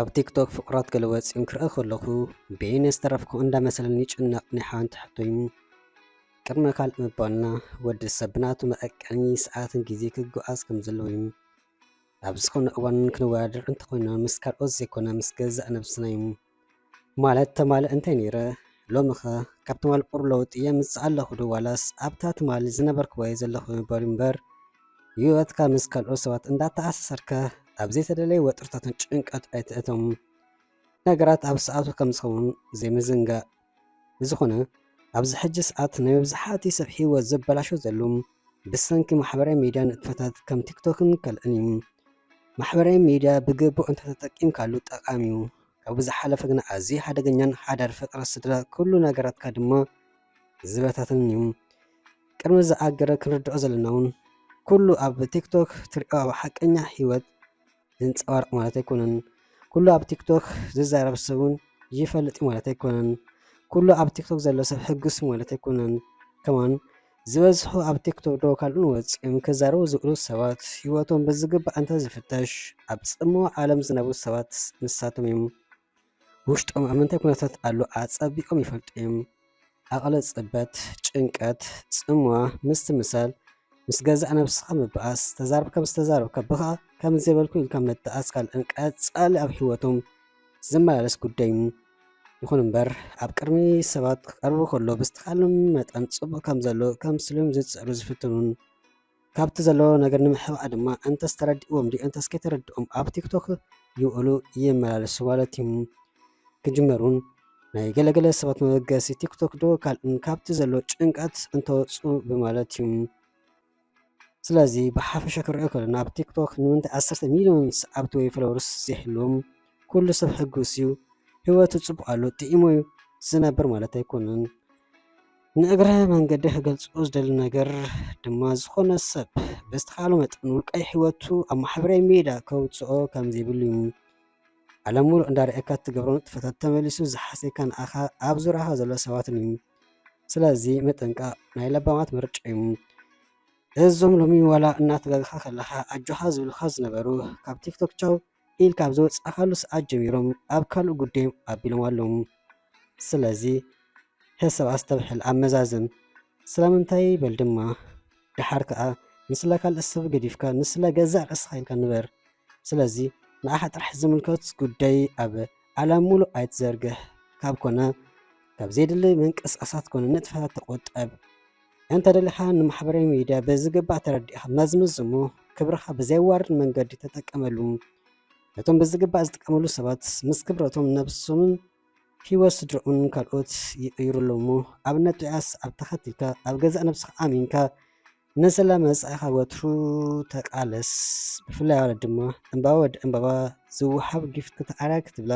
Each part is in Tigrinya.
ኣብ ቲክቶክ ፍቁራት ገለወፂን ክርኢ ከለኹ በየነ ዝተረፍኩ እንዳመሰለኒ ይጭነቕ ናይ ሓንቲ ሕቶዩ ቅድመ ካልእ ምባልና ወዲ ሰብ ብናቱ መቐቀኒ ሰዓትን ግዜ ክጓዓዝ ከም ዘለዎ እዩ ኣብ ዝኾነ እዋን ክንወዳደር እንተኾይና ምስ ካልኦት ዘይኮነ ምስ ገዛእ ነብስና እዩ ማለት ተማል እንተ ነይረ ሎምኸ ካብ ትማል ቁር ለውጢ የምጽእ ኣለኹ ዶ ዋላስ ኣብታ ትማል ዝነበርክዋየ ዘለኹ ይበሉ እምበር ህይወትካ ምስ ካልኦት ሰባት እንዳተኣሳሰርካ ኣብ ዘይተደለየ ወጥርታትን ጭንቀት ኣይትእቶም ነገራት ኣብ ሰዓቱ ከም ዝኸውን ዘይምዝንጋእ ብዝኾነ ኣብዚ ሕጂ ሰዓት ናይ መብዛሕትኡ ሰብ ሂወት ዘበላሾ ዘሎ ብሰንኪ ማሕበራዊ ሚድያ ንጥፈታት ከም ቲክቶክን ካልእን እዩ። ማሕበራዊ ሚድያ ብግቡእ እንተተጠቂምካሉ ጠቃሚ እዩ። ካብኡ ዝሓለፈ ግና ኣዝዩ ሓደገኛን ሓዳር ፍቅሪ ስድራ ኩሉ ነገራትካ ድማ ዝበታትን እዩ። ቅድሚ እዚ ኣገረ ክንርድኦ ዘለና እውን ኩሉ ኣብ ቲክቶክ ትሪኦ ኣብ ሓቀኛ ሂወት ዘንጸባርቕ ማለት ኣይኮነን። ኩሉ ኣብ ቲክቶክ ዝዛረብ ሰብ እውን ይፈልጥ እዩ ማለት ኣይኮነን። ኩሉ ኣብ ቲክቶክ ዘሎ ሰብ ሕጉስ ማለት ኣይኮነን። ከማን ዝበዝሑ ኣብ ቲክቶክ ዶ ካልኡን ወፂኦም ክዛረቡ ዝኽእሉ ሰባት ህይወቶም ብዝግባእ እንተዝፍተሽ ኣብ ፅምዋ ዓለም ዝነብሩ ሰባት ንሳቶም እዮም። ውሽጦም ኣብ ምንታይ ኩነታት ኣሎ ኣጸቢቆም ይፈልጡ እዮም። ኣቕለ ጽበት፣ ጭንቀት፣ ጽምዋ፣ ምስትምሳል፣ ምስ ገዛእ ነብስኻ ምባኣስ፣ ተዛርብካ ምስ ተዛረብካ ብኻ ከምዚ ዘይበልኩ ኢልካ ምትኣስ ካልእን ቀጻሊ ኣብ ህይወቶም ዝመላለስ ጉዳይ እዩ። ይኹን እምበር ኣብ ቅድሚ ሰባት ክቐርቡ ከሎ ብዝተኻሎም መጠን ጽቡቕ ከም ዘሎ ከምስሎም ዝጽዕሩ ዝፍትኑን ካብቲ ዘሎ ነገር ንምሕባእ ድማ እንተስ ተረዲእዎም ድዩ እንተስ ከይተረድኦም ኣብ ቲክቶክ ይውዕሉ ይመላለሱ ማለት እዩ ክጅመሩን ናይ ገለገለ ሰባት መበገሲ ቲክቶክ ዶ ካልእን ካብቲ ዘሎ ጭንቀት እንተወፁ ብማለት እዩ ስለዚ ብሓፈሻ ክሪኦ ከለና ኣብ ቲክቶክ ንምንታይ ዓሰርተ ሚሊዮን ሰዓብቲ ወይ ፎሎወርስ ዘይህልዎም ኩሉ ሰብ ሕጉስ እዩ ህይወቱ ፅቡቅ ኣሎ ጥዒሞ እዩ ዝነብር ማለት ኣይኮነን ንእግረ መንገደይ ክገልጾ ዝደሊ ነገር ድማ ዝኾነ ሰብ ብዝተኻእሎ መጠን ውልቃዊ ህይወቱ ኣብ ማሕበራዊ ሜዳ ከውጽኦ ከም ዘይብሉ እዩ። ዓለም ሙሉእ እንዳርኣየካ እትገብሮ ንጥፈታት ተመሊሱ ዝሓስየካ ንኣኻ ኣብ ዙርያኻ ዘሎ ሰባትን እዩ። ስለዚ ምጥንቃቕ ናይ ለባማት ምርጫ እዩ። እዞም ሎሚ ዋላ እናተጋገኻ ከለኻ ኣጆኻ ዝብሉኻ ዝነበሩ ካብ ቲክቶክ ቻው ኢል ካብ ዝወጻእካሉ ሰዓት ጀሚሮም ኣብ ካልእ ጉደዮም ኣቢሎም ኣለዉ ስለዚ ሕሰብ ኣስተብሕል ኣመዛዝን ስለምንታይ በል ድማ ደሓር ከኣ ንስለ ካልእ ሰብ ገዲፍካ ንስለ ገዛእ ርእስኻ ኢልካ ንበር ስለዚ ንዓኻ ጥራሕ ዝምልከት ጉዳይ ኣብ ዓለም ሙሉእ ኣይትዘርግሕ ካብ ኮነ ካብ ዘየድሊ ምንቅስቃሳት ኮነ ንጥፈታት ተቆጠብ። እንተደሊኻ ንማሕበራዊ ሚድያ ብዝግባእ ተረዲእኻ መዝምዝ እሞ ክብርኻ ብዘየዋርድ መንገዲ ተጠቀመሉ። ነቶም ብዝግባእ ዝጥቀመሉ ሰባት ምስ ክብረቶም ነብሶምን ህይወት ስድርኦምን ካልኦት ይቕይሩ ኣለዉ እሞ ኣብነት ጡያስ ኣብ ተኸቲልካ ኣብ ገዛእ ነብስኻ ኣሚንካ ንስለ መጻኢኻ ወትሩ ተቃለስ። ብፍላይ ኣዋልድ ድማ ዕምባባ ወዲ ዕምባባ ዝወሃብ ጊፍት ክትኣርያ ክትብላ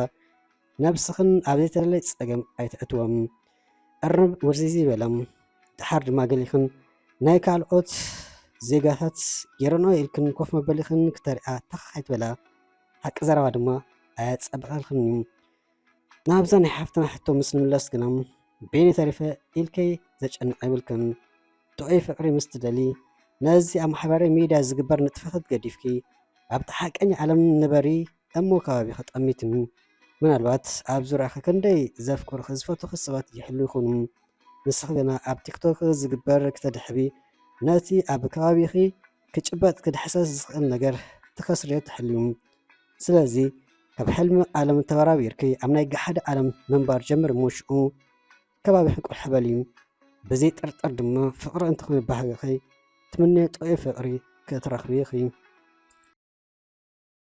ነብስኽን ኣብ ዘይተደለየ ጸገም ኣይተእትወም። እርንብ ውርዚዚ በለም። ደሓር ድማ ገሊኽን ናይ ካልኦት ዜጋታት ጌረንኦ ኢልክን ኮፍ መበሊኽን ክተርእያ ታኽ ኣይትበላ። ሓቂ ዘረባ ድማ ኣየጸብቐልክን እዩ። ናብዛ ናይ ሓፍትና ሕቶ ምስ ንምለስ ግና ቤኒ ተሪፈ ኢልከይ ዘጨንቕ የብልክን። ጥዑይ ፍቕሪ ምስ ትደሊ ነዚ ኣብ ማሕበራዊ ሚድያ ዝግበር ንጥፈታት ገዲፍኪ ኣብታ ሓቀኛ ዓለም ንበሪ እሞ ከባቢኺ ጠሚትኒ ምናልባት ኣብ ዙርያኺ ክንደይ ዘፍቅሩኺ ዝፈትዉኺ ሰባት ይህልዉ ይኾኑ ንስኺ ግና ኣብ ቲክቶክ ዝግበር ክተድሕቢ ነቲ ኣብ ከባቢኺ ክጭበጥ ክድሕሰስ ዝኽእል ነገር ትኸስርዮ ትሕልዩ ስለዚ ካብ ሕልሚ ዓለም ተበራቢርኪ ኣብ ናይ ገሓደ ዓለም ምንባር ጀምሪ እሞ ሽኡ ከባቢኺ ቁልሕ በሊ ብዘይ ጥርጥር ድማ ፍቕሪ እንትኾነ ባህግኺ ትምነዮ ጥዑይ ፍቕሪ ክትረኽቢ ኢኺ።